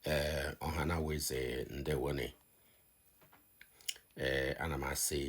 ee eh, ọha na eze ndewone ee eh, ana m asị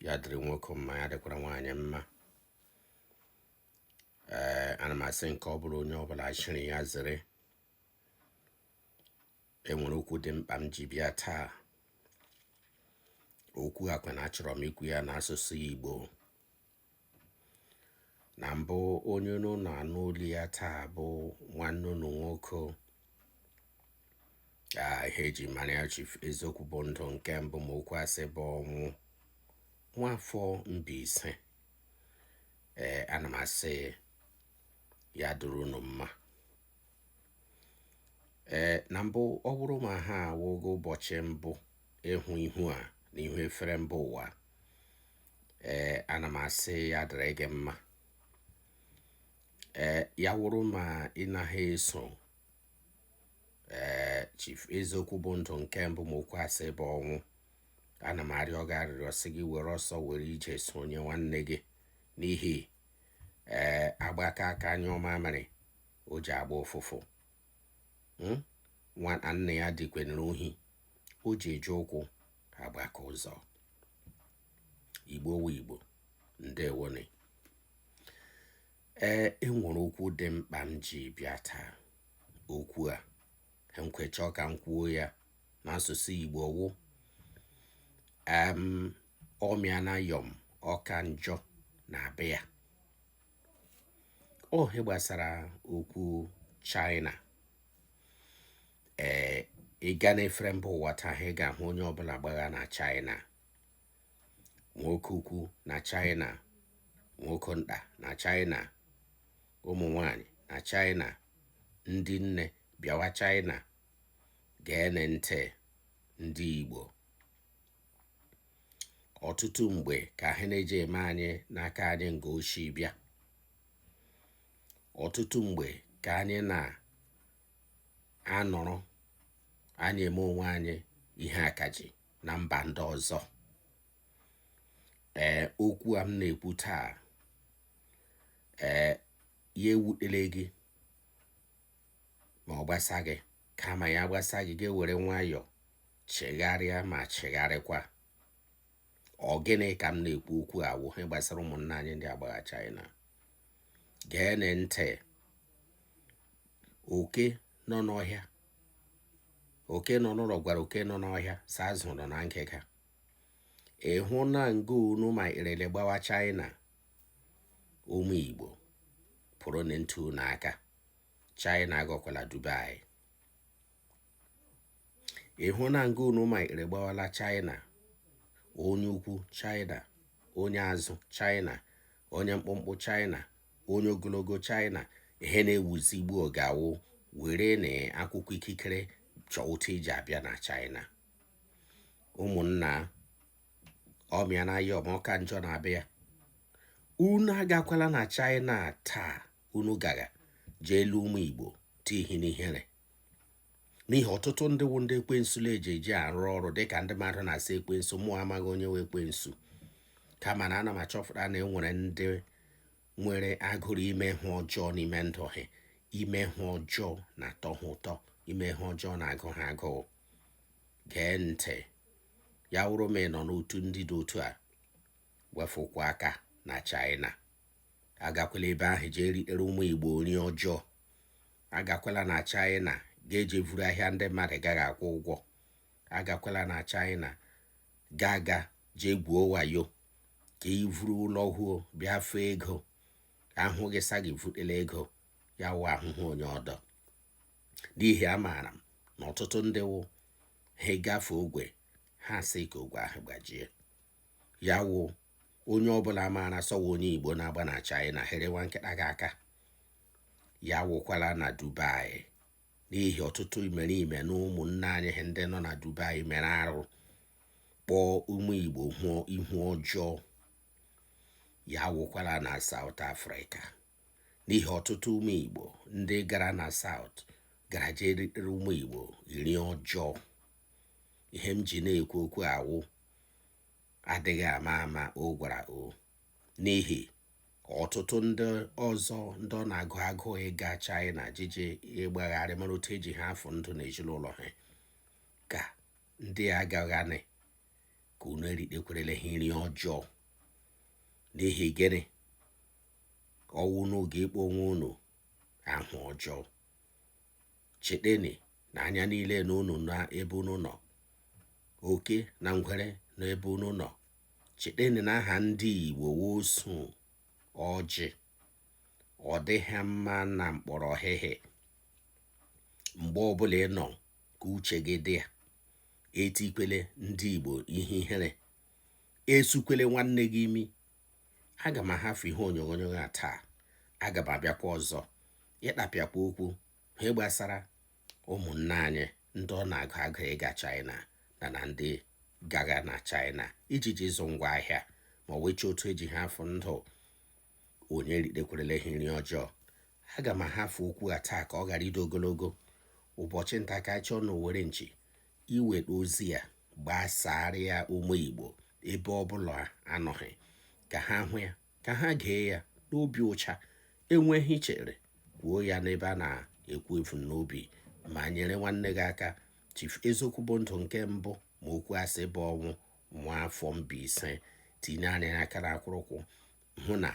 ya dịrị nwoke mma ya dịkwara nwaanyị mma ee eh, ana m asị nke ọ bụla onye ọbụla chịrị ya zere enwere okwu dị mkpa m ji bịa taa okwu a kwa na achọrọ m ikwu ya n'asụsụ Igbo na mbụ onye unu na-anụ olu ya taa bụ nwanne unu nwoke ihe eji mara ya Chief Eziokwu bụ ndụ nke mbụ ma okwu asị bụ ọnwụ nwafọ Mbaise ee ana m asị ya dịrị unu mma ee na mbụ ọ wụrụ ma ha a wụ gị ụbọchị mbụ ịhụ ihu a n'ihu efere mba ụwa ee ana m asị ya dịrị gị mma ee ya wụrụ ma ị naghị eso ee chief eziokwu bụ ndụ nke mbụ ma okwu asị bụ ọnwụ ana m arịọ gị arịrịọ sị gị were ọsọ were ije sonye nwanne gị n'ihi ee agbakọ aka anyụ mamịrị o ji agba ụfụfụ hmm? nwa nna ya dukwanyere ohi o ji eji ụkwụ agbaka ụzọ igbo wụ igbo ndewone ee enwere okwu dị mkpa m ji bịa taa okwu a nkwechọ ka m kwuo ya n'asụsụ igbo wụ ọmịa na yọm ọ ka njọ na-abịa ọ ihe gbasara okwu China ee ị gaa n'efere mba ụwa taa ihe ị ga-ahụ onye ọbụla gbagha na China nwoke ukwu na China nwoke nta na China ụmụ nwanyị na China ndị nne bịawa China gee ntị ndị Igbo ọtụtụ mgbe ka ihe na-eji eme anyị n'aka anyị nga o shi abịa ọtụtụ mgbe ka anyị na-anọrọ anyị eme onwe anyị ihe akaji na mba ndị ọzọ ee okwu a m na-ekwu taa ee ya ewutele gị ma ọ gbasa gị kama ya gbasa gị gị ewere nwayọọ chegharịa ma chegharịkwa ọ gịnị ka m na-ekwu okwu a wụ ihe gbasara ụmụnna anyị ndị agbagha China geenụ ntị oke nọ n'ọhịa oke nọ n'ụlọ gwara oke nọ n'ọhịa sa azụ nọ na ngịga ị hụ na nga unu marala gbawa China ụmụ Igbo pụrụ na ntu n'aka China aghọkwala Dubai ị hụ na nga unu mara gbawala China onye ukwu China onye azụ China onye mkpụmkpụ China onye ogologo China ihe na-ewuzi ugbu a wụ were na akwụkwọ ikikere chọọ otu i ji abịa na China ụmụnna ọmịa na ya ọ ka njọ na-abịa unu agakwala na China taa unu ga-aga jee elu ụmụ Igbo tihi n'ihere n'ihi ọtụtụ ndị wụ ndị ekwensu na-eji eji arụ ọrụ dịka ndị mmadụ na-asị ekwensu mụ amaghị onye wụ ekwensu kama na ana m achọpụta na enwere ndị nwere agụrụ ime ihe ọjọọ n'ime ndụ ha ime ihe ọjọọ na-atọ ha ụtọ ime ihe ọjọọ na-agụ ha agụụ gee ntị ya wụrụ ma ị nọ n'otu ndị dị otu a wefụkwa aka na China agakwala ebe ahụ jee ritere ụmụ igbo nri ọjọọ agakwala na china ga-eje vuru ahịa ndị mmadụ gaghị akwụ ụgwọ agakwala na china ga-aga jee gwuo wayo ka ị vuru lọhụọ bịa fee ego a hụ gị sa gị vutela ego ya wụ ahụhụ onye ọdọ n'ihi amaara m na ọtụtụ ndị wụ ha gafe ogwe ha asị ka ogwe ahụ gbajie ya wụ onye ọbụla maara sị ọ wụ onye igbo na-agba na china herewa nkịta gị aka ya wụkwala na dubai n'ihi ọtụtụ imerime na ụmụnne anyị ha ndị nọ na dubai mere arụ kpọọ ụmụ igbo hụọ ihu ọjọọ ya wụkwala na South Africa n'ihi ọtụtụ ụmụ igbo ndị gara na South gara jee ritere ụmụ igbo iri ọjọọ ihe m ji na-ekwu okwu a wụ adịghị ama ama o gwara o n'ihi ọtụtụ ndị ọzọ ndị ọ na-agụ agụụ ịga China jije ịgbagharị mara otu eji ha afọ ndụ na ezinụlọ ha ka ndị agaghanị ka unu eritekwerele ha nri ọjọọ n'ihi gịnị ọ wụ unu ga-akpọ onwe unu ahụ ọjọọ cheteni na anya niile na unu na ebe unu nọ oke na ngwere na ebe unu nọ cheteni na aha ndị igbo wụ osu ọjị ọ dịghị mma na mkpọrọ ọhịhị mgbe ọbụla ị nọ ka uche gị dị ya etikwele ndị igbo ihe ihere esukwele nwanne gị imi aga m ahafụ ihe onyonyo a taa aga m abịakwa ọzọ ịkpapịakwa okwu ihe gbasara ụmụnna anyị ndị ọ na-agụ agụụ ịga China na na ndị gaga na China iji ji ịzụ ngwa ahịa ma wechi otu eji ha afụ ndụ onye ritekwarala ha nri ọjọọ aga m ahafụ okwu a taa ka ọ ghara ịdị ogologo ụbọchị nta ka a chụọ na owere nchi i nweta ozi a gbasaara ya ụmụ Igbo ebe ọ bụla anọghị ka ha hụ ya ka ha gee ya n'obi ọcha i nwee ihe i chere kwuo ya n'ebe a na-ekwu ebumnobi ma nyere nwanne gị aka Chief Eziokwu bụ ndụ nke mbụ ma okwu asị bụ ọnwụ nwa afọ Mbaise tinyere aka na akwụrụkwụ hụ na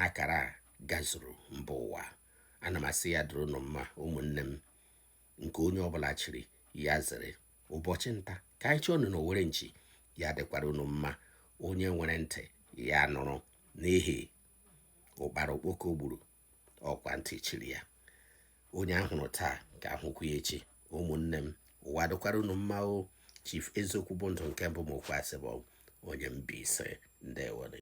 akara gazuru mba ụwa ana m asị ya dịrị unu mma ụmụnne m nke onye ọbụla chiri ya zere ụbọchị nta ka anyị chụọ na owere nchi ya dịkwara unu mma onye nwere ntị ya nụrụ n'ihi ụkpara okpoko gburu ọ kwa ntị chiri ya onye a hụrụ taa ka a hụkwa ya echi ụmụnne m ụwa dịkwara unu mma o chief eziokwu bụ ndụ nke mbụ ma okwu asị bụ onye mbaise ndewonu